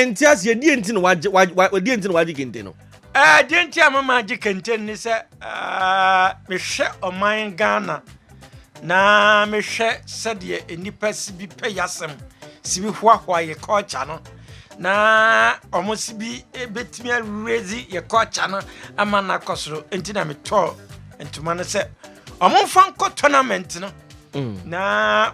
nte aseɛ deɛ nti na wagye wagye deɛ nti na wagye kente no. ɛɛ deɛ nti a mama agye kente no ne sɛ mehwɛ ɔman ghana na mehwɛ sɛdeɛ nnipa si bi pɛ yasɛm si bi hoahoa yɛ culture no na wɔn si bi betumi awuredzi yɛ culture no ama no akɔ soro nti na metɔɔ ntoma no sɛ wɔn mfa nkɔ tournament no mm. na.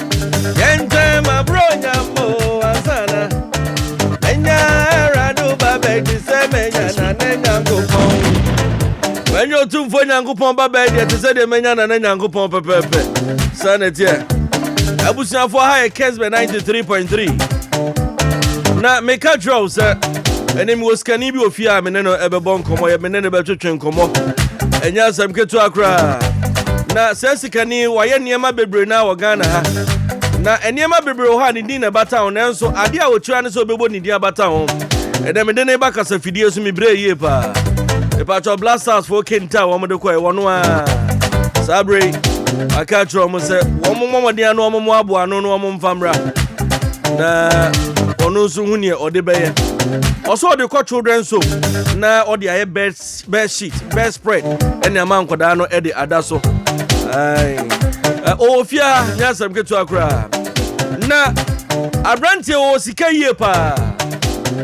ɛnyɛ ɔtumfoɔ nyankopɔn ba bɛɛ deɛ te sɛ deɛ manya nana nyankopɔn pɛpɛɛpɛ saa na ɛteɛ abusuafoɔ ha yɛ kesbɛ 93.3 na meka kyerɛ wo sɛ ɛne mewɔ sikani bi wɔ fie a mene no ɛbɛbɔ nkɔmmɔ yɛ mene no bɛtwetwe nkɔmmɔ ɛnyɛ asɛm ketewa koraa na sɛ sikani wayɛ nneɛma bebree na wɔ ghana ha na nneɛma bebree wɔ hɔ a ne din na ɛbata ho nanso adeɛ a wɔkyerɛ ne sɛ ɔbɛbɔ ne din abata ho ɛdɛ mede ne ba kasa fidie so mebrɛ yie paa ɛpatwɔ blastars foɔ kenta a wɔmde kɔɛ wɔno a saa berɛ yi aka kyerɛ wɔn sɛ wɔn mmɔmɔden ano wɔn aboa ano no wɔn mfa mmra na ɔno nso hu neɛ ɔde bɛyɛ ɔsɛ ɔde kɔ children so na ɔde ayɛ bed bed sheet bed spread ɛne ama nkwadaa no ɛde ada so ɔwɔ fie a nyɛ asɛm ketewa koraa na aberanteɛ wɔ sika yie paa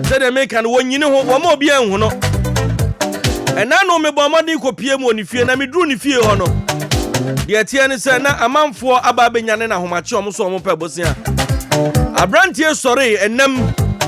sɛdeɛ meka no wɔnyini ho wɔma obi anhu no ɛna no mebɔ mmɔden kɔpie mu wɔ ne fie na meduru ne fie hɔ no deɛ ɛteɛ ne sɛ na amanfoɔ aba abɛnya ne nahomakye ɔmo so ɔmo pɛ bosea aberanteɛ sɔree ɛnam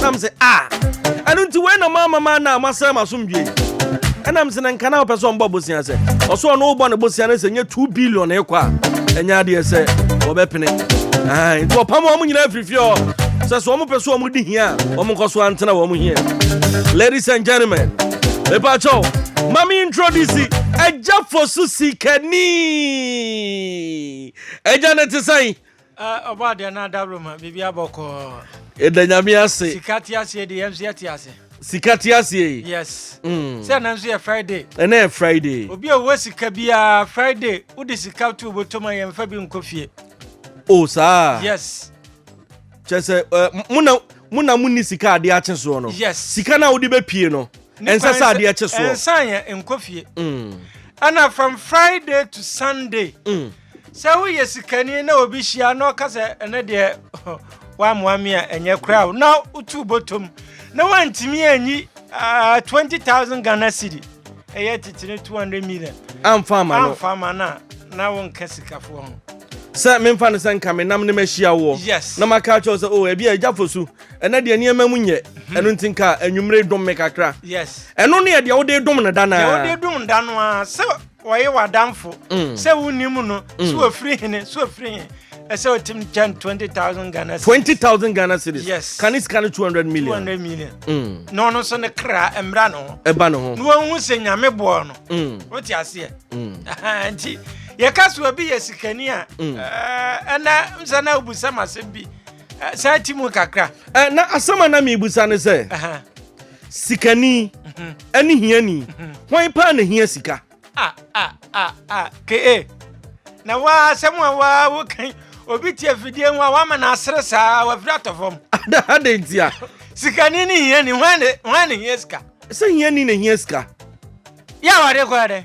na m sɛ a ah, ɛno nti wei na moama ma na moasɛe m'asomdwe ɛna m sɛ na nka na wopɛ sɛ ɔmbɔ bosea sɛ ɔsɛ ɔno wobɔ ne bosea no sɛ nyɛ 2 billion ɛkɔ a ɛnyɛ adeɛ sɛ wɔbɛpene nti ɔpam wɔn nyinaa firifiri hɔ sɛ sɛ wɔn pɛ so wɔn di hia a wɔn nkɔ so antena wɔn hia ladies and gentlemen mepa kyɛw mami introduce ɛgya fosu sikani ɛgya ne te sɛn Eh, ɔbɔ adeɛ na adabro ma biribi abɔ kɔɔ. Yɛda nyame ase. Sika te aseɛ de yɛn nso yɛte ase. Sika te aseɛ yi. Yes. Mm. Sɛ ɛna nso yɛ Friday. Ɛna yɛ Friday. Obi a ɔwɔ sika biara Friday wode sika to obotom a yɛn fa bi nkɔ fie. O saa. Yes. Kyɛ sɛ eh, mo na mo na mo ni sika adeɛ akye soɔ no. Yes. Sika na wode bɛpie no. Ɛnsɛ sɛ adeɛ kye soɔ. Ɛnsan yɛ nkɔ fie. Mm. Ɛna from Friday to Sunday. Mm. Sɛ woyɛ sikani na obi hyia na ɔka sɛ ɛnɛ deɛ woamoa me a ɛnyɛ koraa o na wotu bɔtɔm na woantumi anyi uh, 20000 ghana cedi ɛyɛ titire 200 million amfa ama no amfa ama no a na wonka sikafoɔ ho sɛ memfa no sɛ nka menam ne mahyia woɔ yes. na maka kyɛw sɛ o oh, ebi a agya fo su ɛnɛ deɛ nneɛma mu nyɛ mhm. ɛno nti nka anwummere dom me kakra yes. ɛno ne ɛdeɛ wode dom no da no a wode dom da no a sɛ Wɔye w'adamfo sɛ wonim no sɛ wɔfiri hene sɛ wɔfiri he ɛsɛ ɔtim kyɛn 20000 ghana 20000 ghana series yes ka ne sika no 200 million 200 million mm. na ɔno nso ne kra mmra ne ho ɛba ne ho na wɔhu sɛ nyame boɔ no mm. wote aseɛ mm. nti yɛka so obi yɛ sikani a mm. ɛnɛ sɛ na wobusɛm asɛm bi saa ti mu kakra na asɛm a na mebusa ne sɛ Sikani ne hiani, hwan paa na hia sika? Ah, ah, ah, ah, KA. Na waa asɛm a waa wokan obi te afidie ho a wama no asere saa wafiri atɔ fam. Adɛn nti a? Sikani ne hiani, hwan na hia sika? Sɛ hiani na hia sika. Yɛ awade kɔ dɛ.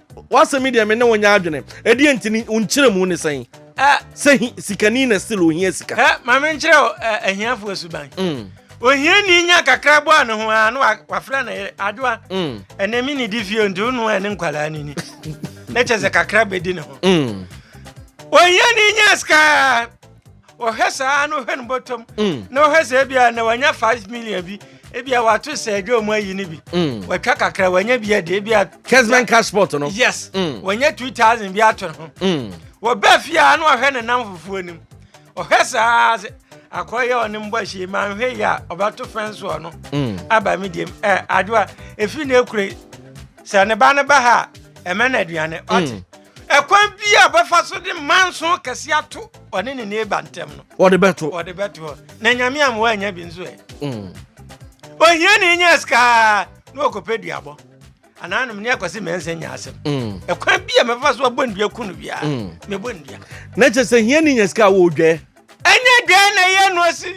W'asɛm yi deɛ me ne wo nyɛ adwene. Ɛdeɛ nti ni, wo nkyerɛmu ne sɛn? Ɛ. Sɛ hi, sikani na still ohia sika. Ɛ. Ma me nkyerɛ wo ɛ, ahiafoɔ suban. Mm. Ohiani nya kakra bɔ a ne ho a, na wa, wafrɛ ne yere, Adoa, mm. ɛnɛ me nidi fie nti wo noa ne nkwadaa no ni. na kyɛ sɛ kakra bɛdi ne ho. Mm. Ohiani nya sika ɔhwɛ saa na ɔhwɛ no bɔtɔm mm. na ɔhwɛ sɛ ebia na wanya five million bi ebia wato sɛ ɛdwa ɔmo ayi no bi mm. watwa kakra wanya bi ɛde ebia kesman cash sport no yes mm. wanya two thousand bi ato ho wɔbɛ fie a na ɔhwɛ ne nam fufuo nim ɔhwɛ saa sɛ akɔyɛ ɔne mbɔ ahyia ma nhwɛ yi a ɔbɛto fɛn soɔ no aba mi diem ɛ adewa efi na ekure sɛ ne ba ne ba ha ɛmɛ na aduane ɔte. Ɛkwan biara a ɔbɛfa so de manso kɛse ato ɔne ne neighbor ntam no. Ɔde bɛto. Ɔde bɛto hɔ. Na nyame ama wanya bi nso ɛ. Mm. Ohia ne nya sika na ɔkɔpɛ duabɔ. Anaa nom ne akɔse mɛnsa nya asɛm. Mm. Ɛkwan bi a mɛfa so abɔ ndua ku no biara. Mm. Mɛbɔ ndua. Na kyɛ sɛ hia ne nya sika a wɔdwɛ. Ɛnyɛ dwɛ na ɛyɛ no asi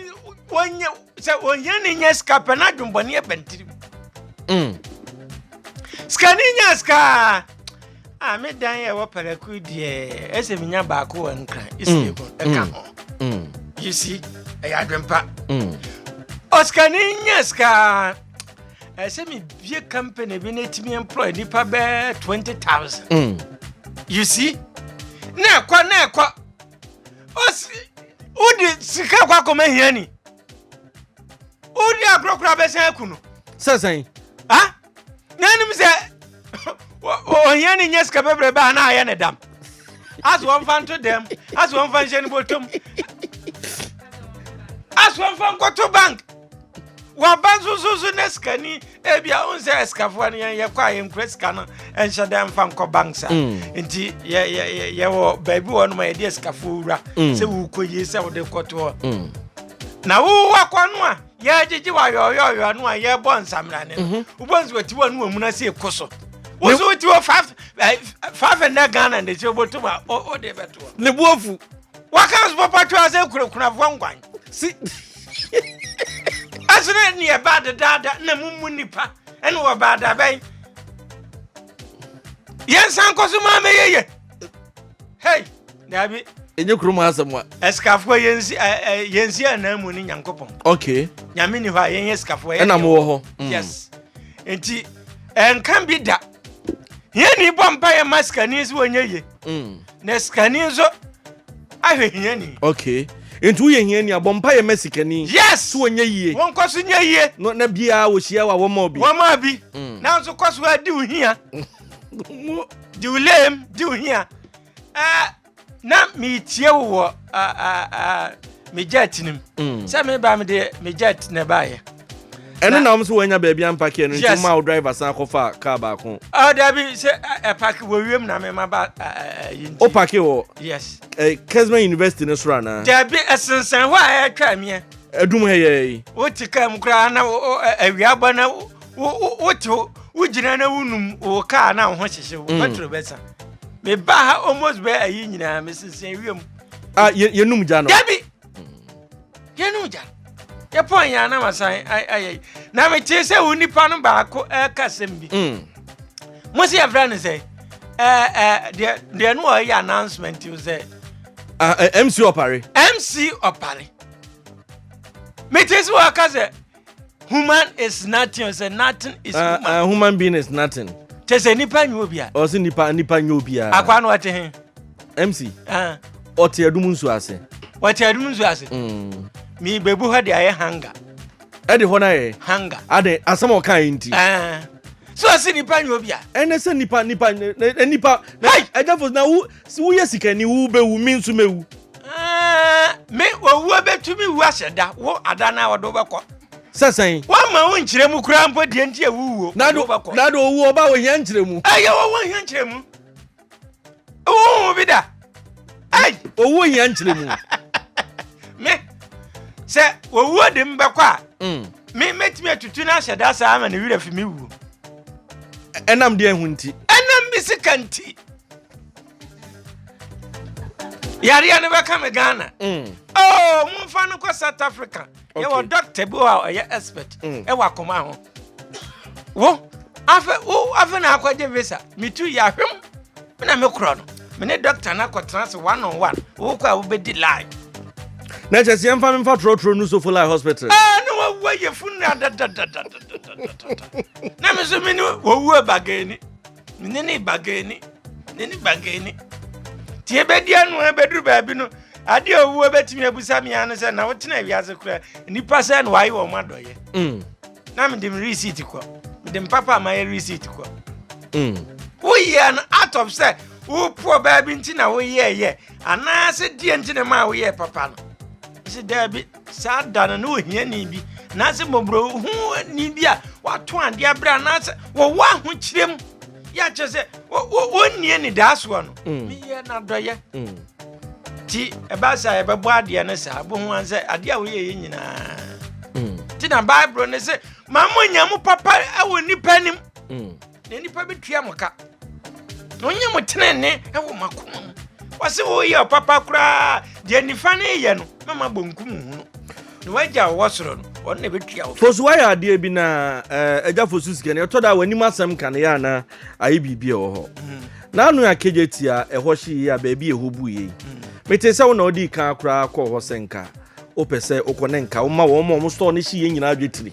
wɔnyɛ sɛ ohiani nya sika pɛ na adwembɔne ɛba ne tirim mm. sikani nya sika a ah, me dan ɛwɔ paraku deɛ ɛsɛ menya baako wɔ nkran ɛsɛ mm. ɛka mm. ho mm. you see ɛyɛ adwempa mm. ɔsikani nya sika ɛsɛ mebie company bi na ɛtumi employ nnipa bɛɛ 20000 mm. you see na ɛkɔ na ɛkɔ ɔsi wodi sika kɔ akɔma hiani wodi akorɔkorɔ abɛsan aku no sɛ sɛn ha na anim sɛ ɔhia ne nyɛ sika bɛbrɛ baa na ayɛ ne dam aso ɔmfa nto dɛm aso ɔmfa nhyɛ ne bɔtɔm aso ɔmfa nkɔto bank waba nso so so ne sikani ebi a ɔn sɛ ɛsikafoɔ no yɛn yɛkɔ a yɛn kura sika no ɛnhyɛ dɛ nfa nkɔ bank saa mm. nti yɛ yɛ yɛ yɛwɔ baabi wɔ no ma yɛde ɛsikafoɔ wura mm. sɛ wukɔ yie sɛ wɔde kɔtoɔ mm. na wowɔ kɔ no a yɛgyegye wɔ ayɔyɔyɔ no a yɛbɔ nsamira ne no mhm. wobɔ nso wɔti wɔ no wɔ mu na sɛ ɛkɔ so woso woti wɔ five five hundred ghana na ɛsɛ wobɔtɔ mu a wode bɛtoɔ ne boafu Waka so papa twa sɛ kunakunafoɔ nkwan. Si ɛsene ne ɛba dedaada na mu mu nipa ɛne wɔ baadabɛn. Yɛn san kɔ so maa mɛyɛ yɛ. Hey, dabi. Enye kurom asɛm wa. Ɛsikafoɔ yɛn si ɛ yɛn si anan mu ne nyankopɔn. Okay. Nyame ni hɔ a yɛn yɛ sikafoɔ. Ɛna mo wɔ hɔ. Mm. Yes. Nti ɛnkan bi da. Yɛn ni bɔ mpa yɛn masikani si wɔnyɛ yie. Mm. na sikani nso ahwɛ hiani. okay nti woyɛ hiani a bɔ mpa yɛ mɛ sikani. yes so wɔnyɛ yie. wɔn kɔ so nyɛ yie. no na biara wɔhyia wa wɔma obi. wɔma obi mm. nanso kɔ so adi wo hia. mo di wo lem di wo hia. Uh, na metie wo wɔ uh, uh, uh, me jet nim mm. sɛ meba mede me jet na ɛbaeɛ ɛno na wɔn nso wɔanya baabi ampake ɛno nti ma wo driver san akɔfa kaa baako. ɔ dabi sɛ ɛpake wɔ wiem na mema ba yi nti. o pake wɔ. yes. ɛ kesman university ne soro anaa. dabi ɛsensɛn hɔ a ɛtwa miɛ. ɛdum ha yɛ yi. o ti kaa mu koraa na awia bɔ na o o ti o o gyina na o num o kaa na o ho hyehye o pɛtro bɛ san meba ha almost bɛ ayi nyinaa mesensɛn wiem. a yɛnum gya no. dabi yɛne ogya yɛpɔn yɛn anam asan ayɛ na metee sɛ wo nipa no baako ɛka sɛm bi mm. mo sɛ yɛfrɛ no sɛ deɛ no ɔyɛ announcement o sɛ mc ɔpare mc ɔpare metee sɛ wɔka sɛ human is nothing ɔsɛ nothing is ah, human. Uh, uh, human being is nothing. kyɛ sɛ nipa nyɛ obia. ɔsɛ nipa nipa nyɛ obia. akwa no ɔte he. mc. ɔte adum nsu ase. ɔte adum nsu ase. Mm. mi bebu hɔ de ayɛ hanga. ɛde hɔ na yɛ. hanga. adɛ asɛm a ɔka yi nti. so ɔsɛ nipa nyɛ obia. ɛnɛ sɛ nipa nipa nipa. ɛdɛ fo na wo Sɛ woyɛ sikani wo bɛwu me nso mɛwu. Aah me owuo bɛtumi wu ahyɛ da wo ada no a wɔde wobɛkɔ. Sɛ sɛn? Wɔmma wo nkyerɛmu koraa mpo deɛ nti a wowuo wɔde wobɛkɔ. Na do owuo ba ohia nkyerɛmu. Ei owuo ohia nkyerɛmu. Wohu bi da. Ei. Owuo ohia nkyerɛmu. Me sɛ owuo de mbɛkɔ a. Mm. Me mɛtumi atutu no ahyɛ da saa ama ne werɛ fi me wuo. Ɛnam deɛ ho nti? Ɛnam me sika nti. yareɛ no bɛka me ghana mm. oh, momfa no kɔ south africa yɛwɔ dɔctor bi a ɔyɛ expert mm. ɛwɔ akoma ho wo afei na akɔgye visa metu yɛahwem na mekorɔ no mene dɔctor no akɔtena se one on one wokɔ a wobɛdi live na kyɛ sɛ yɛmfa memfa torɔtorɔ no sofo lai hospital ah, na wawu ayɛfu no adadadadadadadada na me so mene wɔwu abagani Me ne ne bagaani, ne ne bagaani. Nti ebedi ano ebeduru baabi no, ade a owu ebetumi abusa me ano sɛ na wotena wiase koraa nnipa sɛ na wɔayɛ wɔn adɔyɛ. Mm. Na mede me receipt kɔ, mede me papa a mayɛ receipt kɔ. Mm. Woyɛ no out of sɛ wopoɔ baabi nti na woyɛɛyɛ anaasɛ deɛ nti na ma woyɛɛ papa no. Ɛsɛ daabi. Saa da no na ohiani bi anaasɛ mmɔborɔhuni bi a wato adeɛ abrɛ anaasɛ wɔwɔ ahokyerɛ mu yɛ akyerɛ sɛ wɔnni anidaasoɔ no mm. meyɛ n'adɔyɛ mm. nti ɛbaa sɛ yɛbɛbɔ adeɛ no saa bohu an sɛ adeɛ a woyɛyɛ nyinaa mm. nti na bible no sɛ ma mo nya mo papa wɔ nnipa anim na nnipa bɛtua mo ka na ɔnyɛ mo tenene wɔ makoma mu wɔse woyɛ ɔpapa koraa deɛ nifa no yɛ no mɛma bonkum hu no na wagya wɔwɔ soro no ɔno na ɛbɛtua wo fosu wayɛ adeɛ bi na eh, agya fosu sika no ɛtɔ da a w'anim asɛm ka no yɛ anaa ayɛ biribi ɛwɔ hɔ mm. na ano akagya ti a ɛhɔ hye yie a baabi ɛhɔ bu yei mm. mete sɛ wo na wode kan koraa kɔɔ hɔ sɛ nka wopɛ sɛ wokɔ ne nka woma wɔn ma wɔn store no hye yɛ nyinaa adwetiri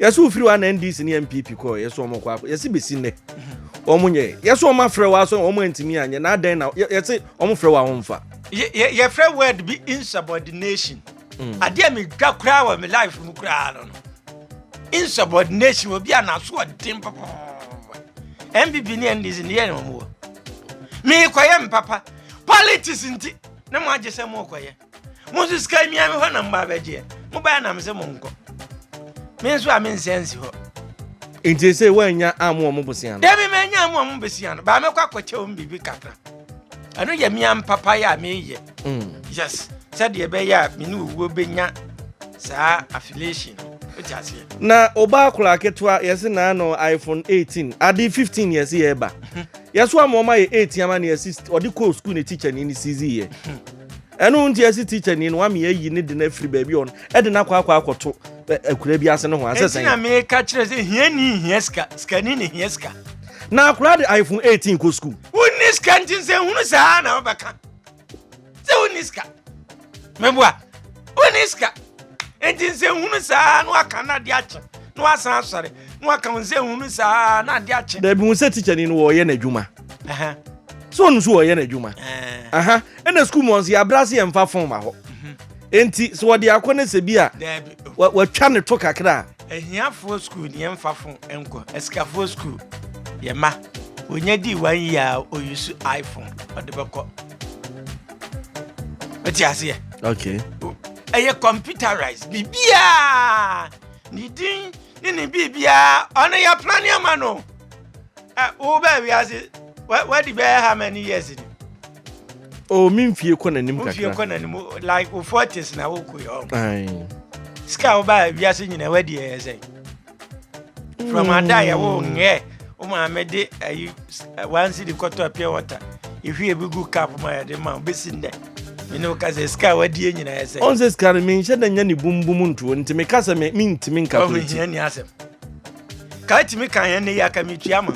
yɛsɛ wofiri wa na ndc ne mpp kɔ yɛsɛ wɔn kɔ akɔ yɛsɛ bɛsi nnɛ wɔn nyɛ yɛsɛ wɔn afrɛ wa so wɔn antumi anyɛ na adɛn na yɛsɛ wɔn frɛ wa wɔn fa. yɛfrɛ word bi insubordination mm. adeɛ a medwa koraa wɔ me life mu koraa no no insubordination obi a n'aso ɔden papa mpp ne ndc ne yɛ ne wɔn wɔ meekɔyɛ mpapa politics nti ne mo agye sɛ mookɔyɛ mo nso sika mmia me hɔ na mma abɛgyeɛ mobaɛ na mese monkɔ me nso a mensɛ nsi hɔ nti sɛ woanya amu ɔmo bosia no dɛbi manya amu ɔmo bosia no baa mɛkɔ akɔkyɛ ɔmo biribi kakra ɛno yɛ mmea mpapayɛ a meyɛ mm. yes sɛdeɛ ɛbɛyɛ a me ne owuo bɛnya saa affiliation na ɔbaa koraa ketewa yɛse naa no iphone 18 ade 15 yɛse yɛba yɛso ama ɔma yɛ 8 ama ne yɛse ɔde kɔɔ sukuu ne tikyɛ ne ne sizi yɛ Ɛno nti ɛse teacher ni no wame ayi ne de no afiri baabi ɔn ɛde no akɔ akɔ akɔto akura bi ase no ho asɛ sɛn. Ɛti na meka kyerɛ sɛ hia ni hia sika sika ni ne hia sika. Na akura de iPhone 18 kɔ school. Wonni sika nti nsɛ hunu saa na wobɛka sɛ wonni sika. Meboa wonni sika nti nsɛ hunu saa na waka na ade akye na wasan asɔre na waka nsɛ hunu saa na ade akye. Dabi hu sɛ teacher ni no wɔyɛ n'adwuma. sɛ ɔno so wɔyɛ no adwuma ɛna sukuu mu ɔnso yɛabrɛ ase yɛmfa fon ma hɔ mhm. enti sɛ wɔde akɔ no sɛ bi a watwa ne to kakra a ahiafoɔ sukuu ne yɛmfa fon nkɔ asikafoɔ sukuu yɛma ɔnya dii wan yi a ɔyi so iphone ɔde bɛkɔ ɛte aseɛ ɛyɛ computerized biribiaa ne din ne ne biribiaa ɔno yɛpra ne ama no Ah, wo bɛɛ wiase, wadi bɛɛ how many years ni? Oh, mi nfie kɔ n'anim kakra. Nfie kɔ n'anim, like wo forties na wo kɔ yɛ ɔmo. Sika wo baa wiase nyina wadi ɛyɛ sɛ. From ada yɛ wo ngɛ, wo maame de ayi one city kɔtɔ pure water. Ehwie bi gu cup ma yɛ de ma wo besi ndɛ. Mene wo ka sɛ sika wadi nyina yɛ sɛ. Ɔnsɛ sika no menhyɛ da nya ne bumbum ntuo nti meka sɛ me mentimi nka kuro ti. Ɔmo hia ni asɛm. ka tumi kan ɛnɛ yi aka metua ma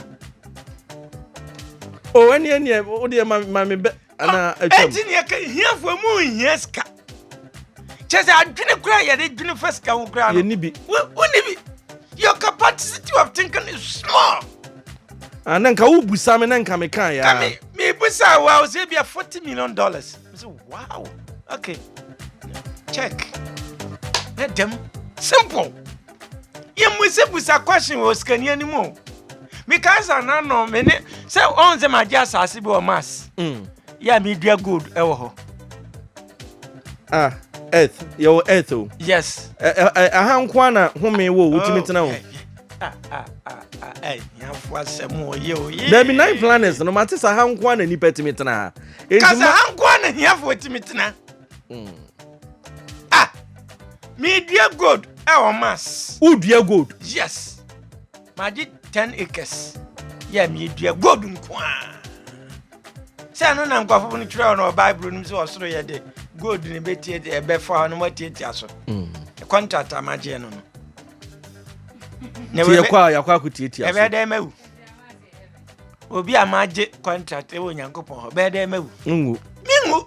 o ɛne ɛneɛ wodeɛ ma me bɛ anaa atwam ɛnti neɛ ka hiafoɔ mu nhia sika kyɛ sɛ adwene koraa yɛde dwene fa sika ho koraa no yɛni bi woni bi your capacity of thinking is small ah, na nka wobusa me na nka meka yɛa mebusa wo a wo sɛ bia 40 million dollars mesɛ wow okay check na dɛm simple yɛmmusabusa question wɔ sikani anim o meka sɛ nanɔ me ne sɛ ɔn sɛ magye asase bi wɔ mas mm. yɛ a medua gold ɛwɔ hɔ ah earth yɛwɔ earth o yes aha nko a na home wɔ wotumi oh, tena o dabi nine planets no mate sɛ ha nko a na nnipa tumi tena ha kasa ha nko a na hiafoɔ tumi tena Ah! Medua gold ɛwɔ mass. Wodua gold? Yes. Magye ten acres. Yɛ medua gold nko a. Sɛ ɛno na nkurɔfo no twerɛ no wɔ Bible no mu sɛ ɔsoro yɛ de gold ne bɛtie de ɛbɛfa hɔ no moatiatia so. Mm. Contract a magyeɛ no no. Nti yɛkɔ a yɛakɔ akɔtiatia so. Ɛbɛyɛ dɛ mawu. Obi a magye contract ɛwɔ Onyankopɔn hɔ bɛyɛ dɛ mawu. Ngu. Mengu.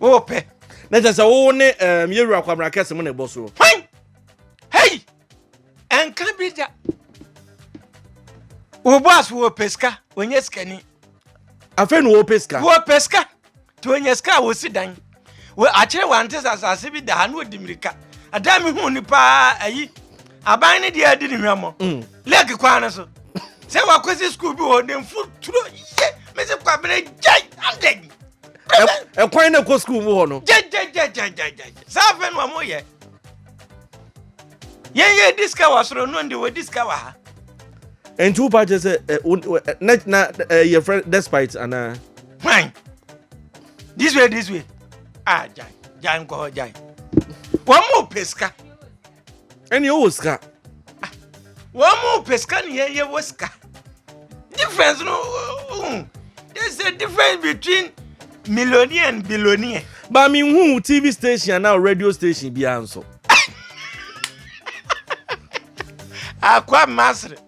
wopɛ na kyɛ sɛ wo ne um, yɛwura kwabena kɛse mu na ɛbɔ soɔ hwan hei ɛnka bi da wo boas wɔpɛ sika ɔnyɛ sikani afei na wɔpɛ sika wɔpɛ sika nti ɔnya sika a wɔsi dan akyerɛ wante sɛ asase bi da ha na ɔdi mmirika ɛda me hu ni paa ayi aban ne deɛ adi ne hwammɔ mm. lɛk kwan no so sɛ wakɔsi skuul bi hɔ ne mfo turo ye mese kwabena gyai andɛn ɛkwan na ɛkɔ sukuu mu hɔ no gyegyegyegyegyegye saa afei no ɔmo yɛ yɛn yɛ di sika wɔ asoro no ndi wɔdi sika wɔ ha nti wo paa kyerɛ sɛ eh, eh, eh, na na yɛ frɛ despite anaa hwan this way this way ah gyan gyan nkɔ hɔ gyan wɔn mu pɛ sika ɛne ɔwɔ sika ah, wɔn mu pɛ sika ne yɛn yɛwɔ sika difference no uh, there's a difference between millionaire and billionaire. ba mi hu tv station anaa radio station biara nso. akwa masiri.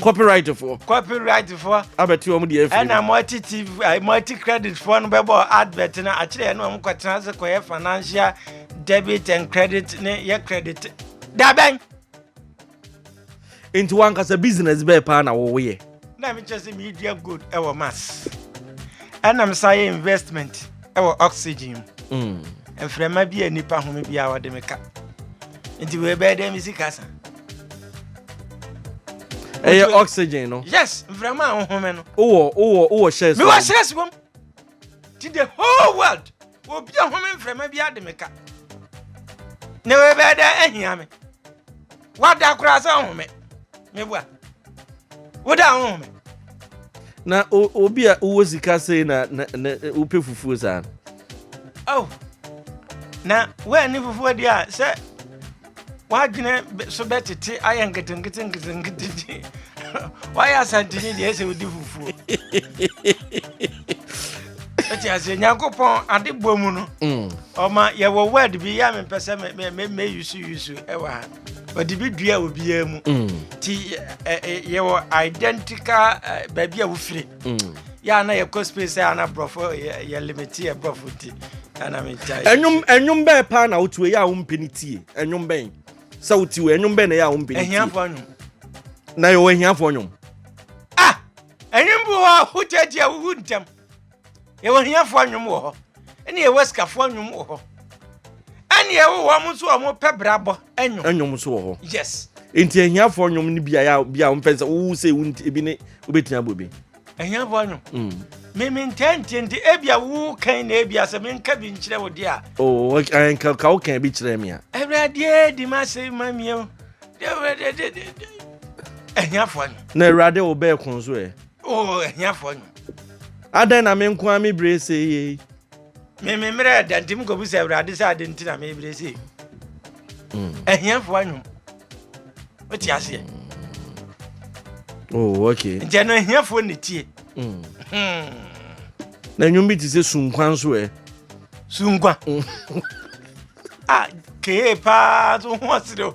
copyright foɔ copyright foɔ abɛte wɔn deɛ afiri ɛna mo ati tv eh, mo ati credit foɔ no bɛbɔ advert no akyerɛ yɛn na wɔn kɔtena ase kɔyɛ financial debit and credit ne yɛ credit dabɛn. nti wankasa business bɛɛ paa na wɔyɛ. na mi kyerɛ sɛ mi dua gold ɛwɔ mass ɛna mi san yɛ investment ɛwɔ oxygen mu mm. mframa bi a nipa home bi a wɔde mi ka nti wei bɛyɛ dɛ mi sika san. ɛyɛ Nti- oxygen no yes mframa a wohome no wowɔ wowɔ wowɔ shares mewɔ wɔ- sɛs wom ti the whole world obi a home mframa bi ade me ka na wɔbɛyɛ dɛ ahia me woada koraa sɛ wohome meboa woda a wohome na o- obi a wowɔ sika sei na na- na wopɛ fufuo saa no oh na woani fufuo deɛ a sɛ w'adwene so bɛtete ayɛ nketenkete nketenkete wayɛ asantini deɛ ɛsɛ wodi fufuo ɛti aseɛ nyankopɔn ade bɔ mu no mm. ɔma yɛwɔ word bi yɛ a mempɛ sɛ mɛyusu yusu ɛwɔ ha ɔde bi dua obiara mu nti mm. yɛwɔ identical baabi a wofire yɛ a na yɛkɔ space sɛ ana borɔfo yɛ limiti yɛ borɔfo ti ana megyae ɛnwom ɛnwom bɛɛ paa na wotiwe yɛ a wompɛ ne tie ɛnwom bɛn sɛ wotiwe ɛnwom bɛn na yɛ a wompɛ ne tie ahiafoɔ nwom na yɛwɔ ahiafoɔ nwom ah ɛnwom bi hɔ a wogya gye a wowu ntɛm Yɛwɔ ahiafoɔ anwom wɔ hɔ, ɛne yɛwɔ asikafoɔ anwom wɔ hɔ, ɛne yɛwɔ wɔn nso wɔn pɛ brabɔ anwom. Anwom nso wɔ hɔ. Yes. Nti ahiafoɔ anwom no bi a bi a wɔn pɛ sɛ wowu sɛ ewu nti ebi ne wobɛtumi abɔ bi. Ahiafoɔ anwom. Mm. Mimi ntɛ nti nti ebi a wowu kan na ebi a sɛ mi nka bi nkyerɛ wo di a. Oo oh, eh, nka ka wo kan bi kyerɛ mi a. Awurade di ma se ma mi o. Ahiafoɔ anwom. Na awurade wo bɛɛ kun so ɛ. Eh. Oh, ahiafoɔ nnwom. Adɛn na me nko ara me bire sei yei? Me me mmerɛ ɛda nti mekɔbu sɛ Awurade sɛ ade nti na me bire sei. Ahiafoɔ hmm. nnwom. Wote aseɛ? Oh, okay. Nti ɛno ahiafoɔ na tie. Hmm. Hmm. Na nnwom bi te sɛ sunkwa nso ɛ. Sunkwa. Ah, kee paa so ho ɔsere o.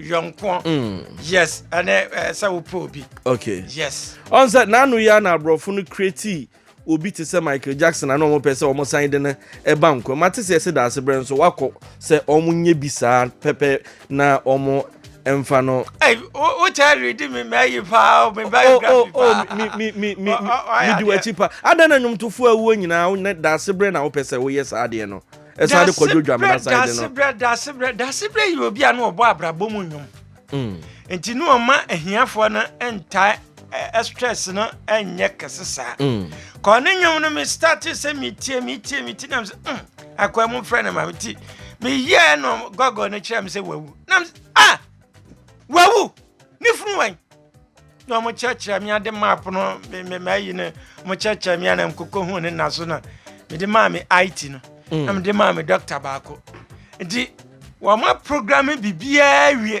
yɔnkoɔ mm. yes ɛne sɛ wopɛ obi okay yes ɔn sɛ n'ano yi a na aborɔfo no kreti obi te sɛ michael jackson ana wɔn pɛ sɛ wɔn san de no ɛba nkwa mate sɛ ɛsɛ daase brɛ nso wakɔ sɛ wɔn nyɛ bi saa pɛpɛ na wɔn mfa no. o kyɛ redi mi mɛ yi paa mi ba yi grafi paa. mi mi mi mi mi di w'akyi paa adan na nnwomtofo awuo nyinaa ne daase brɛ na wopɛ sɛ woyɛ saa adeɛ no. ɛsan de kɔdwo dwamena san de no dasebrɛ dasebrɛ dasebrɛ yɛ obi a no ɔbɔ abrabɔ mu nnwom mm. nti ne ɔma ahiafoɔ no ntaa stress no nyɛ kɛse saa mm. kɔɔ ne nnwom no mestate sɛ metie metie metie nam sɛ mm, akwaa mu frɛ no ma meti meyɛɛ no gɔgɔ no kyerɛ me sɛ wawu nam ah wawu ne funu wan na wɔn kyerɛkyerɛ mi ade map no me me ma ayi no wɔn kyerɛkyerɛ mi ana nkoko hu ne na so na me de maa me it no mm. na me de maa me doctor baako nti wɔn ma program bibiara wie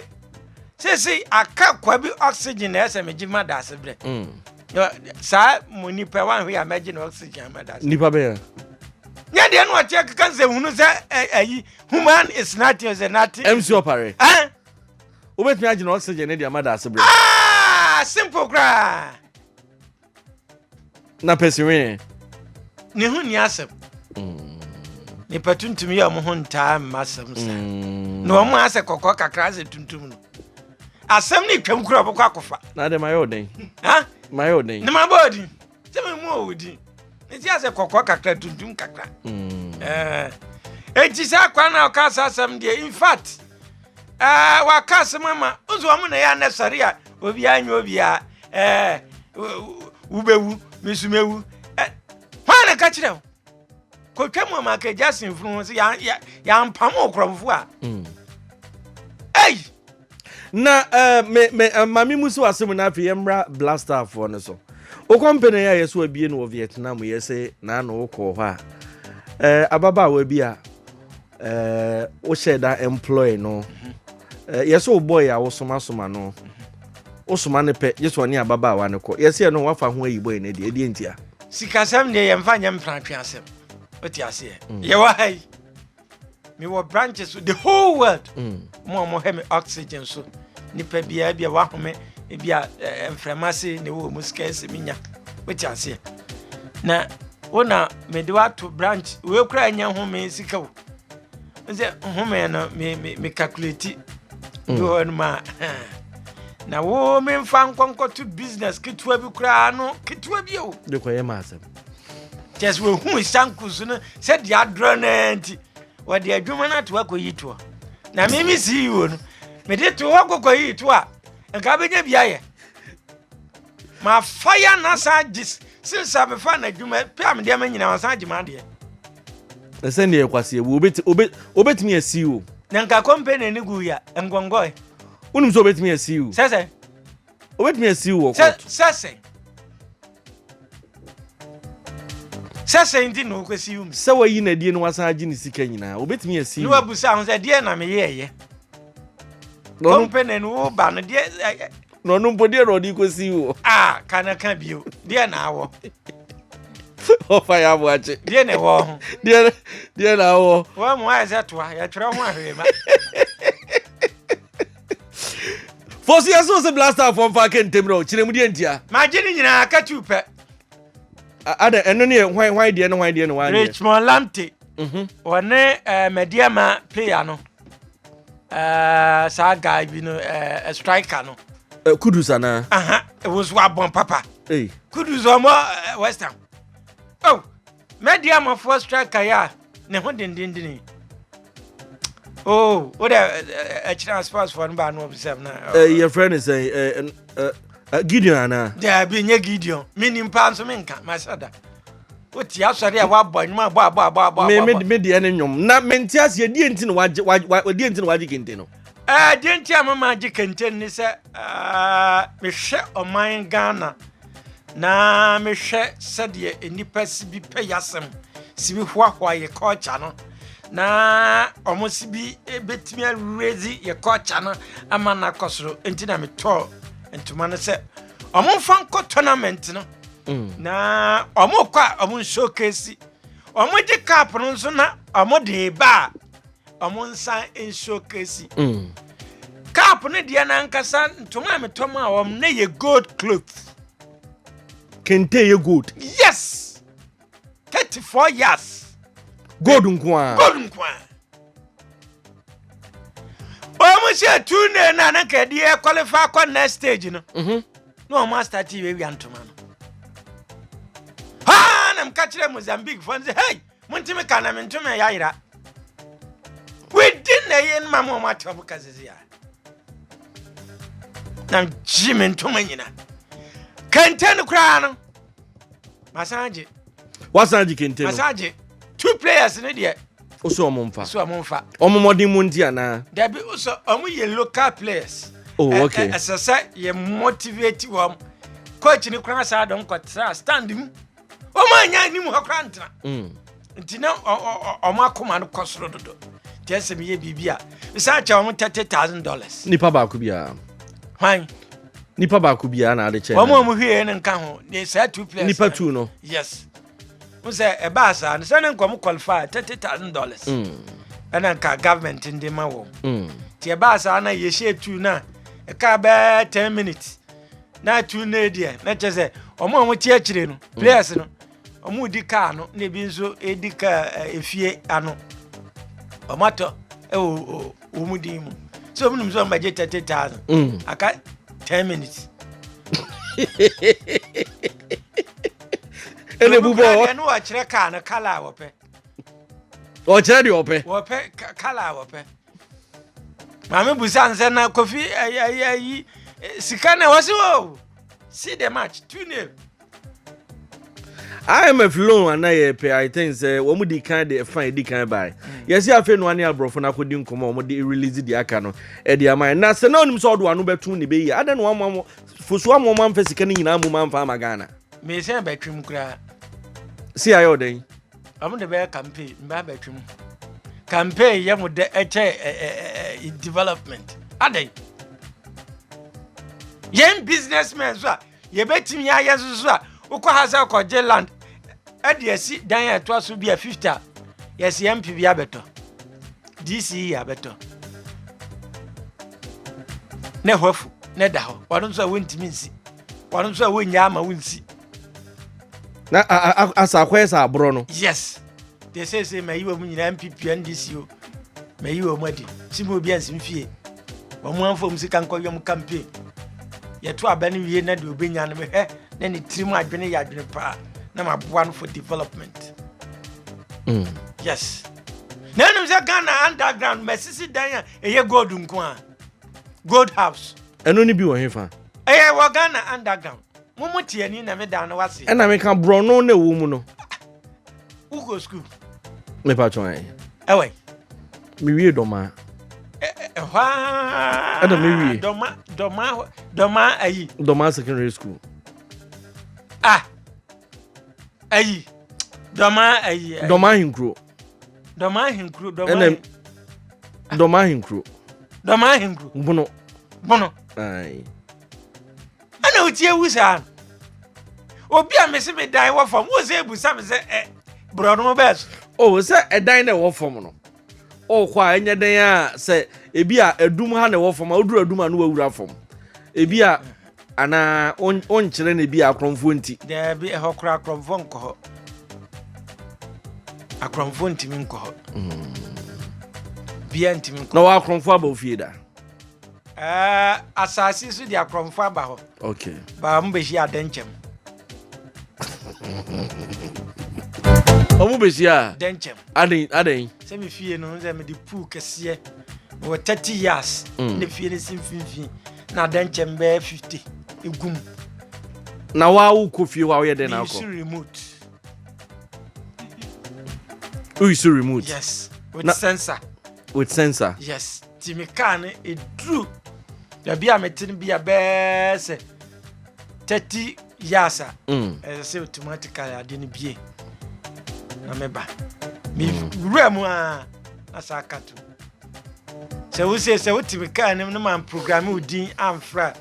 sese aka kwa bi oxygen na ɛsɛ me gye ma da ase brɛ mm. saa mo nipa wa ahwe a mɛgye na oxygen ma da ase nipa bɛyɛ nyɛ deɛ no ɔteɛ keka sɛ hunu sɛ ayi human is nothing sɛ nothing mc ɔpare Wobɛtumi agyina oxygen no de ama daase berɛ. Ah, simple koraa. Na pɛsi wee. Ne ho ni asɛm. Mm. Nipa tuntum yɛ ɔmo ho ntaa mma asɛm sa. Mm. Na ɔmo asɛ kɔkɔɔ kakra asɛ tuntum no. Asɛm ne twam kura ɔbɛkɔ akɔfa. Na de ma yɛ ɔdɛn. Ha? Ma yɛ ɔdɛn. Ne ma bɔ ɔdin. sɛ memu ɔwo din ne ti asɛ kɔkɔɔ kakra tuntum kakra mm. eh, enti saa kwa no a ɔka saa asɛm deɛ infact eh, waka asɛm ama nso ɔmo na ɛyɛ anɛ sɔre a obiaa nyɛ obiaa eh, wobɛwu mesumɛwu hwan na ka kyerɛ wo kɔtwa mu ɔma kagya senfunu ho sɛ yɛampam wo korɔmfo a mm. ei na ɛɛ me me maame mu si w'asɛm na afei yɛmmra blastafoɔ no so wo kɔmpene yɛ a yɛ so abie no wɔ vietnam yɛ se na ano wokɔɔ hɔ a ɛɛ ababaawa bi a ɛɛ wohyɛ da employ no ɛɛ yɛ so wobɔe a wosomasoma no wosoma no pɛ gye so ɔne ababaawa no kɔ yɛ sɛ ɛno wafa ho ayi bɔe no deɛ ɛdeɛ ntia sikasɛm deɛ yɛmfa nyɛ mpratwe asɛm wote aseɛ mm. yɛwɔ ha yi mewɔ branches so the whole world mm. mo a mohwɛ me oxygen so nipa biara bi a wahome ebi a eh, mframa ase na ɛwɔ mu sika ɛsɛ menya wote aseɛ na wo na mede wato branch wei kora ɛnyɛ home sika o sɛ home no me me me calculate mm. bi hɔ no ma na wo memfa nkɔnkɔto business ketewa bi koraa no ketewa bi o de kɔyɛ ma asɛm kyɛ sɛ wɔhuu sanku so no sɛ deɛ adorɔ no ara nti wɔde adwuma no ato akɔyi toɔ na me me ceo no mede to hɔ kɔkɔyi to a nka bɛnya bi ayɛ mafa yɛ na san gye since amefa na adwuma pɛ a medeɛ me nyina wasan gye maadeɛ ɛsɛ neɛ ɛkwaseɛ wu wobɛtumi asi o na nka kɔmpɛ na ɛne gu yɛ nkɔnkɔe wonim sɛ wobɛtumi asi o sɛ sɛ obetumi asiw wɔ kɔɔto. sɛ sɛn sɛ sɛn nti na ɔkɔsi wum. sɛ wayi n'adie na wasan agye ne sika nyinaa obetumi asiw. ne wabusa ho sɛ deɛ na meyɛɛyɛ kɔmpene no wo ba no deɛ na ɔno mpo deɛ na ɔde kɔsi wɔ. a ka na ka bio deɛ na awɔ ɔfa yɛ aboakye deɛ na ɛwɔ ho deɛ deɛ na awɔ. wɔn mu ayɛ sɛ toa yɛtwerɛ ho ahwee ma. fɔ so yɛ so sɛ blaster fɔ mfa aka ntɛm no kyerɛ mu deɛ ntia magye ne nyinaa ka tu pɛ ada ɛno ne yɛ hwan hwan deɛ no hwan deɛ no hwan deɛ richmond lamte mhm. wɔne eh, madiama player no eh, saa guy bi no eh, striker no kudus anaa ɛwɔ so abɔn papa kudus ɔmɔ western oh Mediamafoɔ striker yi a ne ho dendenden yi. Oh, what a a chance pass for anybody no observe na. Eh, your friend is saying, eh, eh, eh, Gideon ana? Yeah, be nye Gideon. Me ni mpa nso me nka, my sada. O ti asɔre a wa bɔ nyuma bɔ bɔ bɔ bɔ. Me me me di ɛne nyom. Na me nti ase di enti na waje waje waje di enti na waje kente no. Eh, di enti a mama je kente ni sɛ, ah, me hwɛ ɔman Ghana. na mehwɛ sɛdeɛ nnipa si bi pɛ yasɛm si bi hoahoa yɛ culture no na wɔn si bi bɛtumi awuredzi yɛ culture no ama no akɔ soro nti na metɔɔ ntoma no sɛ wɔn mfa nkɔ tournament no mm. na wɔn kɔ a wɔn showcase wɔn gye cup no nso na wɔn de ba a ɔmo nsan nsuo kesi. Mm. cap ne deɛ nankasa ntoma a metɔ ma wɔn ne yɛ gold cloth. kente yɛ gold. yes thirty four years. gold nkoa. gold nkoa. wɔn hyɛ two ne na ne kɛdeɛ eh, qualify kɔ next stage no. Mhm. na wɔn asita ti wia wia ntoma no. haa na mo ka kyerɛ mozambique fɔ n sɛ hey. Montumi ka na mentumi ɛyɛ ayera. Within na ɛyɛ ma mo ɔmo atena mo ka sisi a. Na gye me ntoma nyina. Kente no koraa no. Masan gye. Wasan gye kente no. Masan gye. Two players ne deɛ. Oso ɔmo nfa. Oso ɔmo nfa. Ɔmo mɔden mu nti anaa. Dabi oso ɔmo yɛ local players. Oh okay. Ɛsɛ sɛ yɛ motivate wɔn. Coach ni koraa saa dɔm kɔ tra stand mu. wɔn a nya anim hɔ koraa ntena mm. nti na wɔn akoma no kɔ soro dodo nti ɛsɛ mi yɛ biribi a nsa kyɛ wɔn thirty thousand dollars. nipa baako biara. hwan. nipa baako biara na ade kyɛ. wɔn a wɔn hwie ne nka ho ne saa two players. nipa two no. yes n sɛ ɛbaa saa no sɛ ne nkɔm qualify thirty thousand dollars. Mm. ɛna nka government ndi ma wɔn. Mm. nti ɛbaa saa na yɛhyɛ two na ɛka bɛɛ ten minutes. na atu nne deɛ na kyerɛ sɛ wɔn a wɔte akyire no mm. players no wɔn redi kaa no na ebi nso redi kaa eh, efie ano wɔn atɔ wɔ wɔn din mu sɛ wɔn nim sɛ wɔn bɛgye thirty thousand mm. aka ten minutes. ɛna ebu bɔ ɛna wɔkyerɛ kaa no kala a wɔpɛ. wɔkyerɛ deɛ wɔpɛ. wɔpɛ kala a wɔpɛ. maame busa nsɛ na kofi ayi ayi ayi sika na ɛwɔ se o see the match two nil. imf loan ana yɛpɛ i think sɛ wɔn di kan de ɛfa edi kan bae hmm. yɛsi afei nua ne aborɔfo no akɔdi nkɔmɔ wɔn de release di aka no ɛde ama yɛn na sɛ na onim sɛ ɔdo ano bɛtum ne bɛyi adan na wɔn ama fosu ama wɔn amfa sika no nyinaa mu ma amfa ama ghana. mmesia bɛtwam koraa. si ayɛ ɔdɛn. Wɔn de bɛyɛ campaign mbɛ abɛtwam campaign yɛ mo dɛ ɛkyɛ ɛɛ development adɛn yɛn businessmen so a yɛbɛtumi ayɛ nso so a wokɔ ha sɛ kɔgye land ɛde asi dan a ɛtoa so bi a fifty a yɛsi mp bi abɛtɔ dc yi abɛtɔ ne hɔfo ne da hɔ wɔn nso a wɔntumi nsi. ɔno nso a wonnya ama wo nsi na asa akɔyɛ sɛ aborɔ no yes deɛ seesei mayi wɔ mu nyinaa mpipia ndc o mayi wɔ mu adi si mu obi ansi mfie wɔn amfom sika nkɔyɔm campaign yɛto aba no wie na deɛ obɛnya no mehwɛ na ne tirim adwene yɛ adwene paa na maboa no for development mm. yes na ɛnom sɛ ghana underground masisi dan a ɛyɛ gold nko a gold house. ɛno no bi wɔ hefa. ɛyɛ wɔ ghana underground mo mo tiani na me dan no wase. ɛna meka borɔno na ɛwɔ mu no. wokɔ sukuu. mepa twɔn ɛ. ɛwɛ. mewie dɔmaa. ɛhɔ aa. ɛna mewie. dɔma dɔma dɔma ayi. dɔma secondary school. ah ayi dɔma ayi. dɔma ahinkuro. dɔmahenkuro dɔmahen dɔmahenkuro dɔmahenkuro bono bono ayi ɛna oti ewu saa obi a mesi mi dan wɔ fam wo sɛ ebusa mi sɛ ɛ borɔno bɛɛ so. o oh, sɛ ɛdan na ɛwɔ fam no ɔkɔ oh, a ɛnyɛ dan a sɛ ebi a ɛdum ha na ɛwɔ fam a oduru ɛdum a no wɔ wura fam ebi a. Anaa wonkyerɛ no bi akorɔmfoɔ nti? Daabi, ɛhɔ koraa akorɔmfoɔ nkɔ hɔ. Akorɔmfoɔ ntumi nkɔ hɔ. Hmm. Bia ntumi nkɔ. Na wɔ akorɔmfoɔ aba ofie da? Eh, asase so de akorɔmfoɔ aba hɔ. Okay. Baa mo bɛhyia adɛnkyɛm. ɔmo bɛsi a dɛnkyɛm adɛn adɛn sɛ me fie no sɛ mede pool kɛseɛ wɔ 30 years mm. ne fie no si mfimfini na dɛn kyɛm bɛyɛ fifty egu mu. na wa wo kɔ fie hɔ a woyɛ dɛn na akɔ. remote. woyi so remote. yes with na, sensor. with sensor. yes ti mi kaa no eduru baabi a mete no bi a bɛɛ sɛ thirty years a. Mm. ɛsɛ sɛ automatically ade no bie na meba. mi mm. wura mu a na saa ka to. Sɛ wo se sɛ wote me kaa nim no ma mprograme wo din amfra a,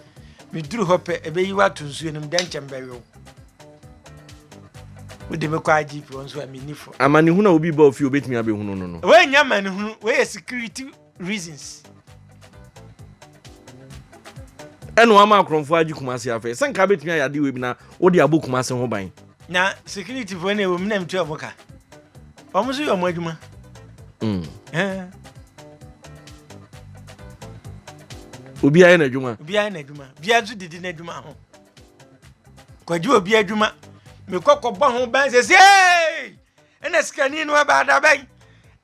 meduru hɔ pɛ ɛbɛyi wo ato nsuo no mu dɛn kyɛm bɛwe wo. Wode me kɔ IGP hɔ nso a menni fɔ. Amanehunu a obi ba ofie obetumi abɛhunu no no. Wei nyɛ amanehunu, wei yɛ security reasons. Ɛna wama akorɔmfoɔ agye Kumasi afei. Sɛ nka abɛtumi ayɛ adeɛ wei bi na wode abɔ Kumasi ho ban. Na security foɔ na ɛwɔ mu na mtua ɔmo ka ɔmo nso yɛ ɔmo adwuma. Mm. Eh. obiara yɛ n'adwuma obiara yɛ n'adwuma obiara nso didi n'adwuma ho kɔgye obi adwuma mekɔ kɔbɔ ho ban sɛ sei Ɛna sikani no ɛbaa dabɛn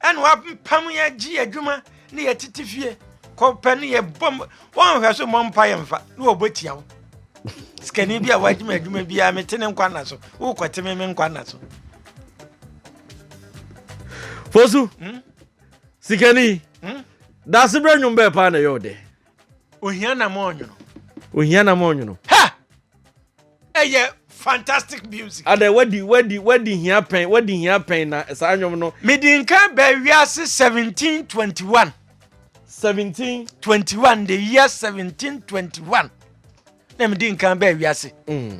ɛna wapam yɛ gye yɛ adwuma ne yɛ tete fie kɔpɛ ne yɛ bɔ wɔnhwɛ so mmɔ mpa yɛ mfa ne wɔbɔ tia wo sikani bi a wagye me adwuma biara mete ne nkwa nna so wokɔte me me nkwa nna so fosu hmm? sikani hmm? daase berɛ nnwom bɛɛ paa na ɛyɛ wo dɛ ohia nam ɔnwono ohia nam ɔnwono ha ɛyɛ fantastic music ada wadi wadi wadi hia pɛn wadi hia pɛn na saa nnwom no medi nka bɛɛ wiase 1721 1721 the year 1721 na medi nka bɛɛ wiase mm.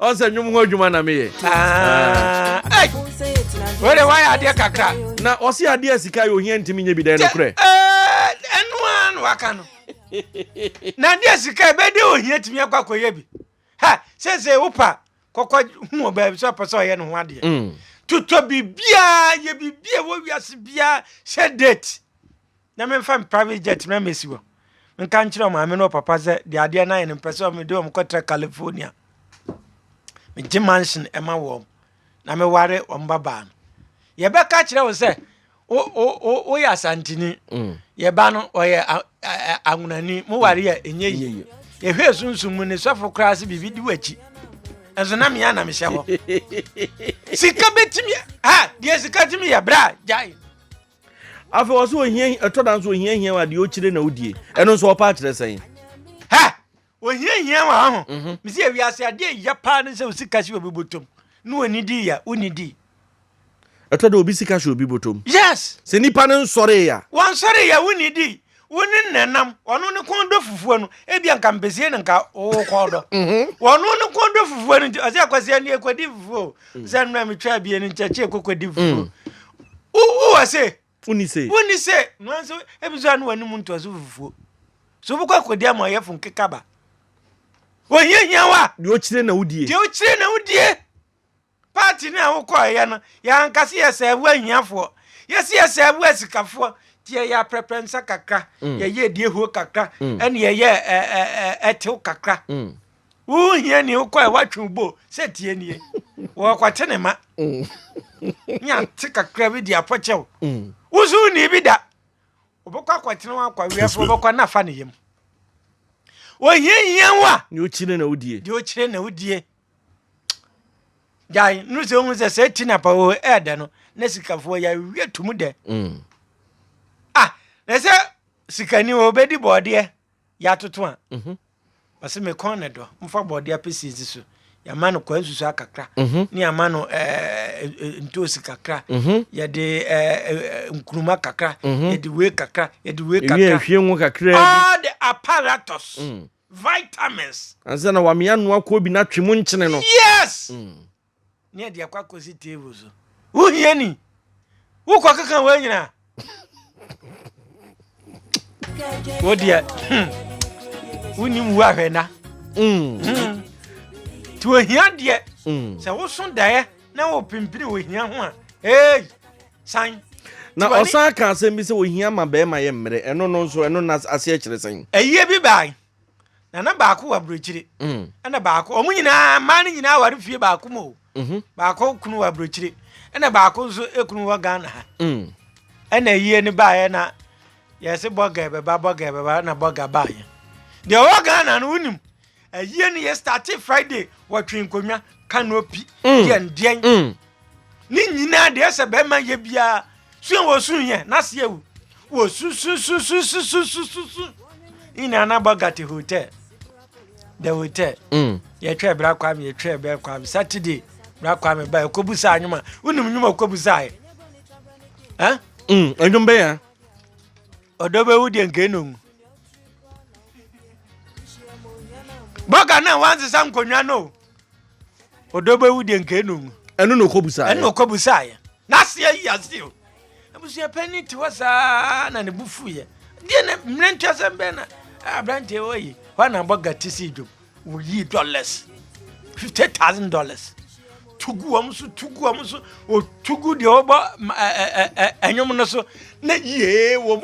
ɔn sɛ nnwom ho adwuma na meyɛ wode woayɛ adeɛ kakra na ɔse adeɛ a sika yɛ ohia ntimi nyɛ bi dɛn nokorɛ ɛno a na waka no na adeɛ sika ɛbɛde ohia tumi akɔ akɔyɛ bi ha sɛsɛ wopa kɔkɔ hu wɔ baabi sɛ ɔpɛ sɛ ɔyɛ ne ho adeɛ mm. totɔ biribiaa yɛ biribi a wɔ wiase biaa hyɛ date na memfa me private jet na mesi hɔ menka nkyerɛ wɔn maame ne wɔn papa sɛ deɛ adeɛ no ayɛ no mpɛ sɛ mede wɔn kɔtra california megye mansion ɛma wɔn na meware wɔn babaa no yɛbɛka kyerɛ wo sɛ woyɛ asantini mm. yɛba no ɔyɛ awonani moware yɛ ɛnyɛ yie yɛhwɛ sunsum mu ne sɔfo koraa sɛ biribi di w'akyi ɛnso na mea na mehyɛ hɔ sika bɛtumi deɛ sika tumi yɛ berɛ a gyae afei ɔsɛ ohia ɛtɔ da nso ohia hia wa deɛ okyire na odie ɛno nso ɔpa akyerɛ sɛn. hɛ ohia hia wa ho mhm. mesi awiase adeɛ ya paa ne sɛ osi kasi obi botom ne wɔni di ya woni di. ɛtɔ da obi sika hyɛ obi botom. yes. sɛ nipa no nsɔre ya. wɔnsɔre ya woni di. wo ne na nam ɔno ne kɔn dɔ fufuo no ebi anka mpɛsie no nka wo kɔn dɔ mhm. ɔno ne kɔn dɔ fufuo no nti ɔsɛ akwasi ani ekɔdi fufuo mm. sɛ nnura mi twɛ abie no nkyɛkyɛ ekɔkɔdi mm. fufuo wo wɔ se woni se woni se nua nso ebi so ano wɔn anim ntɔ so fufuo so wobɛkɔ akɔdi ama ɔyɛ fun kekaba wɔhiahia wa deɛ ɔkyerɛ na wodie deɛ ɔkyerɛ na wodie Party no a wo kɔɔ yɛ no yɛ ankase yɛ sɛ wo ahiafoɔ yɛ se yɛ sɛ wo asikafoɔ ti yɛ yɛ aprɛprɛ nsa kakra mm. yɛ yɛ die huo kakra mm. ɛne yɛ yɛ ɛtew kakra mm. wo hia ni wo kɔɛ watwe wo bo sɛ tie nie wɔkɔte ne ma nya te kakra bi di apɔkyɛw wo so ni bi da wɔbɛkɔ akɔtene wɔn akɔ awiafoɔ wɔbɛkɔ nafa ne yam wɔhiahia wo a deɛ ɔkyire na wodie Gyae no sɛ ohun sɛ sɛ ti na pa wɔ ɛɛdɛ no na sikafoɔ yɛ awie tum dɛ. Mm. Ah, na sɛ sikani wɔ obedi bɔɔdeɛ yɛ atoto a. Mhm. Ɔsɛ me kɔn ne dɔ mfa bɔɔdeɛ apɛsi nsi so yɛama no kwa nsusu akakra mhm. ne yɛama no eh, eh, ntoosi kakra mhm. yɛde eh, nkuruma kakra yɛde wei kakra yɛde wei kakra ɛhwie ngo kakra all the apparatus mm. vitamins. Ansa na wamia ano akɔ bi na twe mu nkyene no. Yes! Mm. Ne ɛde akɔ akɔsi table so. Wohia ni. Wokɔ keka wɔ nyina. Wo deɛ. Wonim wu ahwɛ na. Mm. Mm. Ti ohia deɛ. Mm. Sɛ woso daeɛ na wo pimpini ohia ho a. Hey! San. Na Tiwani- ɔsan ka asɛm bi sɛ ohia ma bɛrima yɛ mmerɛ. Ɛno no nso, ɛno na aseɛ kyerɛ sɛn? Ayie bi bae, na na baako wɔ aburokyire, Mm. ɛna baako, wɔn nyinaa, mmaa no nyinaa ware fie baako mu o. Mhm. Baako kunu wɔ aburokyire, ɛna baako nso kunu wɔ Ghana ha. Mm. Ɛna ayie no baeɛ na yɛse bɔga bɛba bɔga bɛba na bɔga baeɛ. Deɛ ɔwɔ Ghana no wonim. Ayie no yɛ startee Friday wɔtwe nkonnwa canopy mm. yɛ ndeɛn mm. ne nyinaa deɛ sɛ bɛrima yɛ biara sua wɔ su yɛ n'ase awu wɔ susususususususu nyinaa na bɔ gate hotel the hotel mm. yɛtwa ɛbra kwame yɛtwa ɛbra kwame saturday bra kwame ba ɛkɔbu saa nwoma wonim nwoma ɔkɔbu saa ɛ ɛnwom bɛyɛ Ɔdɔ bɛwu deɛ nka ɛnɔ ngu. Bɔga na wansesa nkonnwa no o. Ɔdɔ bɛwu deɛ nka ɛnɔ ngu. Ɛno na ɔkɔbusaeɛ. Ɛno na ɔkɔbusaeɛ. N'aseɛ yi aseɛ o. Abusua panyin te hɔ saa na ne bo fuiɛ. Deɛ na mmerɛntwasɛm bɛn na aberanteɛ wɔ yi. Hɔ na bɔga te sii dwom. Woyii dollars, fifty thousand dollars, tugu wɔn so, tugu wɔn so, otugu deɛ ɔbɔ ɛnwom no so, na yie wɔn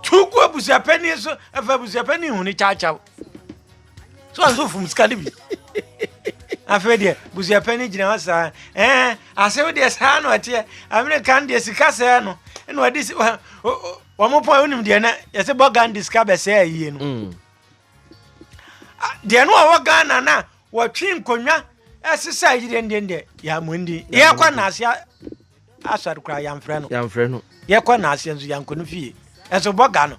tugu abusuapɛni so, ɛfɛ abusuapɛni hu ne kyaakyaw. So ɔnso fum sika no bi. afei deɛ busuapɛ no gyina hɔ saa ɛɛ asew deɛ saa na ɔteɛ amerika no deɛ sika sɛɛ no ɛna ɔde wɔn pɔn wonim deɛ na yɛsɛ bɔ gandhi sika bɛsɛɛ yie no mm. deɛ no ɔwɔ ghana no a wɔtwe nkonnwa ɛsesa yi dendendɛ yɛamondi yɛkɔ naaseɛ asɔre koraa yɛmfrɛ no yɛmfrɛ no yɛkɔ naaseɛ nso yɛnkɔ no fie ɛso bɔ ga no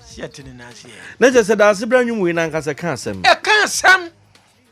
sɛ yɛte ne naaseɛ na kyɛ sɛ daase berɛ nwom wei no ankasa ka asɛm ɛka asɛm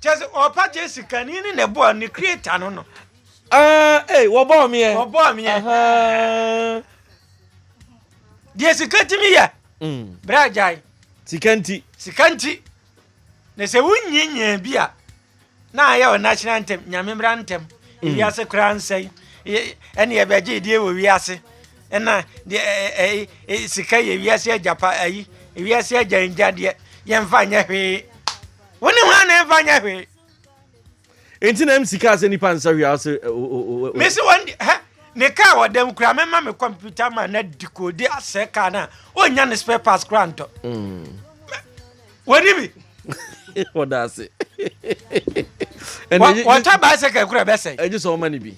Kyerɛ sɛ ɔɔpa gye sikani ne ne boa ne creator no no. Ah, eh, wɔbɔɔ meɛ. Wɔbɔɔ meɛ. Ahaa. Deɛ sika tumi yɛ. Mm. Bra gyae. Sika nti. Sika nti. Na sɛ wonyinyia bi a na ayɛ wɔ national ntɛm nyame mmra ntɛm mm. wiase koraa nsɛe ɛne ɛbɛgye deɛ wɔ wiase ɛna sika yɛ wiase agyapa ayi wiase agya ngya deɛ yɛmfa nyɛ hwee Wo ne hwan na ɛmfa nyɛ hwee? Enti na MC kaa sɛ nipa nsa hwee ase. Mesi wɔn di hɛ ne kaa wɔ dɛm kura mɛma me kɔmputa ma na di ko de asɛ kaa na ɔnya ne spare parts kura ntɔ. Wɔni bi. Wɔda ase. Wɔtɔ bicycle kura bɛsɛ. Ɛgye sɛ wɔma ne bi.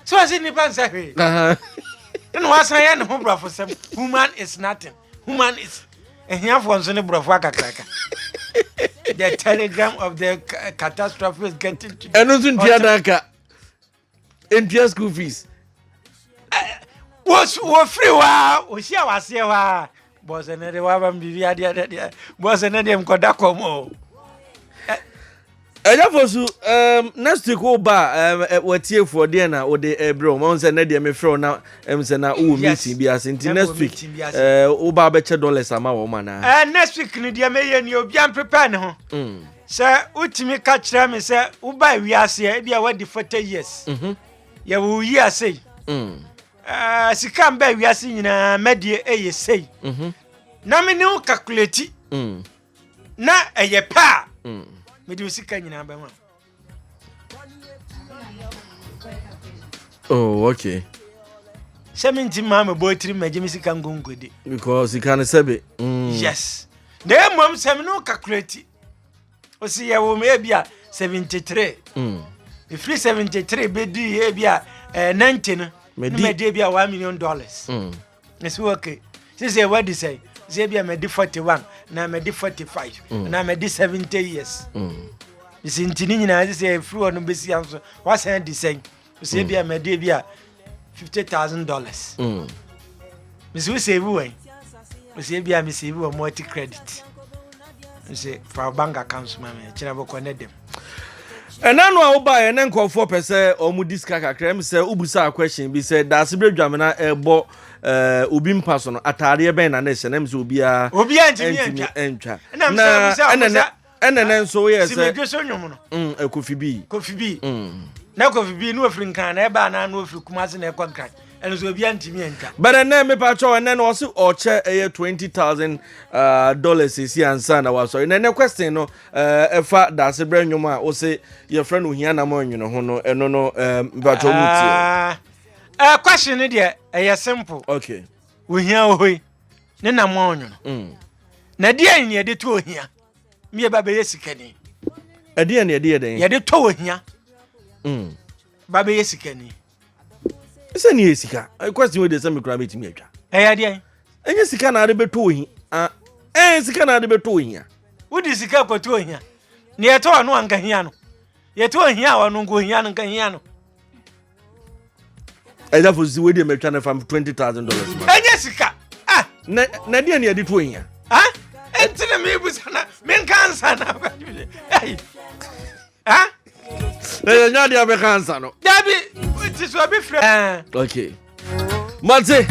so ɔsi nipa nsɛ hwee ɛna wasan yɛ ne ho borɔfo sɛm human is nothing human is ahiafoɔ nso ne borɔfo akakraka the telegram of the catastrophe is getting to ɛno nso ntua n'aka ntua school fees wɔfiri hɔ a ɔhyia waseɛ hɔ a Boss ɛnɛ de waba m biribi adeɛ dɛ deɛ boss ɛnɛ deɛ mkɔda kɔm o ɛyɛ fo so um, next week wo ba um, eh, watiefoɔ deɛ na wode ɛbrɛ wo ma wo sɛ nɛ deɛ mefrɛ wo na ɛm sɛ na wowɔ meeting bi ase nti next week eh, wo ba bɛkyɛ dollars ama wɔ ma naa eh, next week no deɛ mɛyɛ ni obia mprepare ne ho mm. sɛ wotumi ka kyerɛ me sɛ woba wiaseɛ ebia wadi 40 years mhm. yɛwo yi asei mm. Ah, sika mbɛ wiase nyinaa mɛdeɛ ɛyɛ sei mhm. na me ne wo calculate mm. na ɛyɛ pɛ a mm. mede wo sika nyinaa bɛma oh okay sɛ menti maa mebɔ atiri magye me sika nkonkode because sika no sɛbe mm. yes na mmom sɛ me ne wo calculate ɔsi yɛwo m ebi a 73 ɛfiri 73 bɛdii ebi a 90 no ne madi ebi a 1 million dollars ɛsɛ mm. ok sisɛ wadi sɛ sɛ ebi a madi 41 na madi 45 mm. na madi 70 years mm. ɛsi nti ne nyinaa sɛ ɛfiri hɔ no bɛsia nso woasan adi sɛn sɛ ebi a hmm. mɛde ebi a fifty thousand dollars hmm. mesi wo save wɛn mesi ebi a mesi ebi wɔ multi credit mesi fa bank account ma mi ɛkyerɛ bɔkɔ ne dɛm. ɛna no a wobaeɛ ne nkurɔfoɔ pɛ sɛ ɔmo di sika kakra m sɛ wobusaa question bi sɛ daase berɛ dwamena ɛbɔ eh, obi mpa so no ataadeɛ bɛn na ne hyɛ na m sɛ obiara ntumi antwa na ɛnɛ ɛna nɛ nso woyɛ sɛ simedwe so nwom no mm, eh, kofi bi kofi bi mm. na kofi bi na ofiri nkan na ɛbaa na na ofiri kumase na ɛkɔ nkran ɛno so obi antumi antwa bɛrɛ nɛ mepa kyɛw ɛnɛ na ɔse ɔkyɛ ɛyɛ 20000 uh, dollars ɛsi ansa na wasɔre na ɛnɛ question no uh, ɛfa uh, daase berɛ nwom a wo se yɛfrɛ no ohia nam anwene ho no ɛno no uh, mepa kyɛw mu tie ah, eh, question no deɛ ɛyɛ simple okay ohia ohoi ne nam anwene mm. na deɛ nyɛ de to ohia ne yɛba bɛyɛ sikani ɛdeɛ ne ɛdeɛ dɛn yɛde tɔ wɔ hia mm. ba bɛyɛ sikani sɛ ne yɛ sika question wei deɛ sɛ mekora bɛtumi atwa ɛyɛ deɛ ɛnyɛ sika na ade bɛtɔ wɔ hia ɛn sika na ade bɛtɔ wɔ hia wode sika kɔtɔ wɔ hia ne yɛtɔ ɔno anka hia no yɛtɔ wɔ hia a ɔno nka ohia no nka hia no ɛda fo si wei deɛ matwa no fam twenty thousand dollars ma ɛnyɛ sika ah! na na deɛ ne yɛde to ahia ah! ɛnti na mebusa na menka ansa na ah! ɛyɛ nya deɛ bɛka ansa no dabi nti so obi frɛ ah! okay mate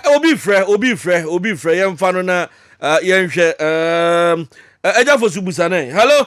obi frɛ obi frɛ obi frɛ yɛmfa no na yɛnhwɛ ɛgya fo so busa ne hello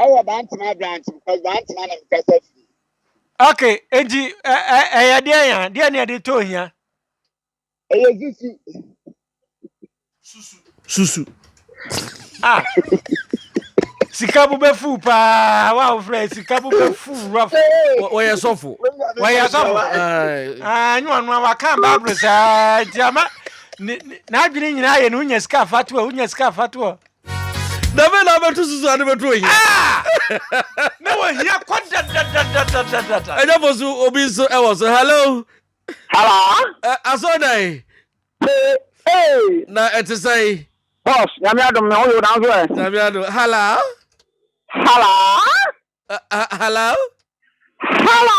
Ɛwɔ Bantama branch because Bantama na mekasa firi. Okay, enti ɛyɛ deɛ ya deɛ ne ɛde tɔ ohia. Ɛyɛ susu. Susu. Susu. Ah. Sika bo bɛ fu paa wa o fɛ sika bo bɛ fu rough. Wɔyɛ sɔfo. Wɔyɛ sɔfo. Ah, nyi wɔn wa kan baabulu saa nti ama n'adwene nyinaa yɛ no wonya sika afatoɔ wonya sika afatoɔ. dɛbɛ na abɛto susu ade bɛto ohia ah! na wɔhia kɔ dadadadadadada ɛnyɛ fo so obi nso ɛwɔ so hello hello asɔdan na ɛte sɛn boss nyame adom na woyɛ wodanso ɛ nyame adom hello hello hello hello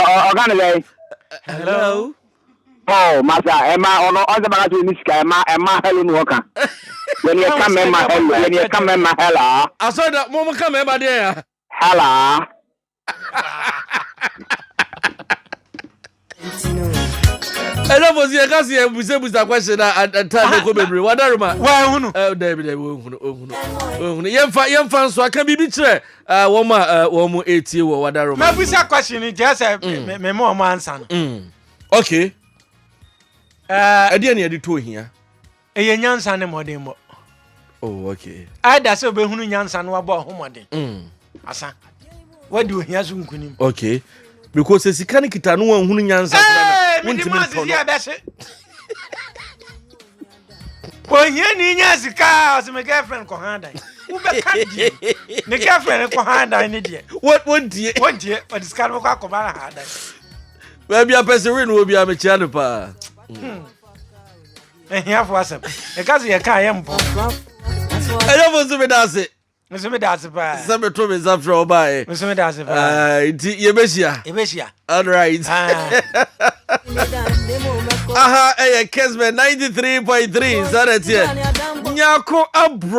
ɔka ne dɛn hello oh masa ɛma ɔno ɔsɛ baka sɛ ɔni sika ɛma ɛma hello no ɔka yɛne yɛka mɛma hello yɛne yɛka mɛma hello asɔ da mo mo ka mɛma deɛ ya hello ɛna fo si ɛka si ɛbusabusa question na ɛtaa ne kɔ bebree wadaroma wɔahunu dɛbi dɛbi wɔahunu wɔahunu wɔahunu yɛmfa yɛmfa nso aka biribi kyerɛ Uh, wɔn a uh, wɔn mu etie wɔ wadaro ma. mɛbusa question ni kyerɛ sɛ mm. mɛmɛ wɔn ansa no. Mm. okay. Uh, ɛdeɛ ni yɛde to ohia. ɛyɛ nyansa ne mɔden bɔ. oh okay. ɛda sɛ obɛhunu nyansa no wabɔ ɔho mɔden. Mm. asa wadi ohia so nkunim. okay because sika ne kita no wɔn hunu nyansa. ɛɛ mi di maa sisi ɛbɛ se. ohiani nya sika a ɔsɛ me girlfriend kɔ ha dan wobɛka deɛ ne girlfriend kɔ ha dan ne deɛ wɔntie wɔntie ɔde sika no bɛkɔ akɔba no ha dan baabi apɛsɛ wei no wɔ biaa mekyea no paa ahiafo asɛm ɛka sɛ yɛka yɛ mpɔ ɛyɛfo nso meda ase nso meda ase paa sɛ meto me nsa frɛ ɔbaeɛ nso meda ase paa nti yɛbɛhyia yɛbɛhyia alright aha ɛyɛ kesbɛ 93.3 sɛ dɛ teɛ nyako abrɔ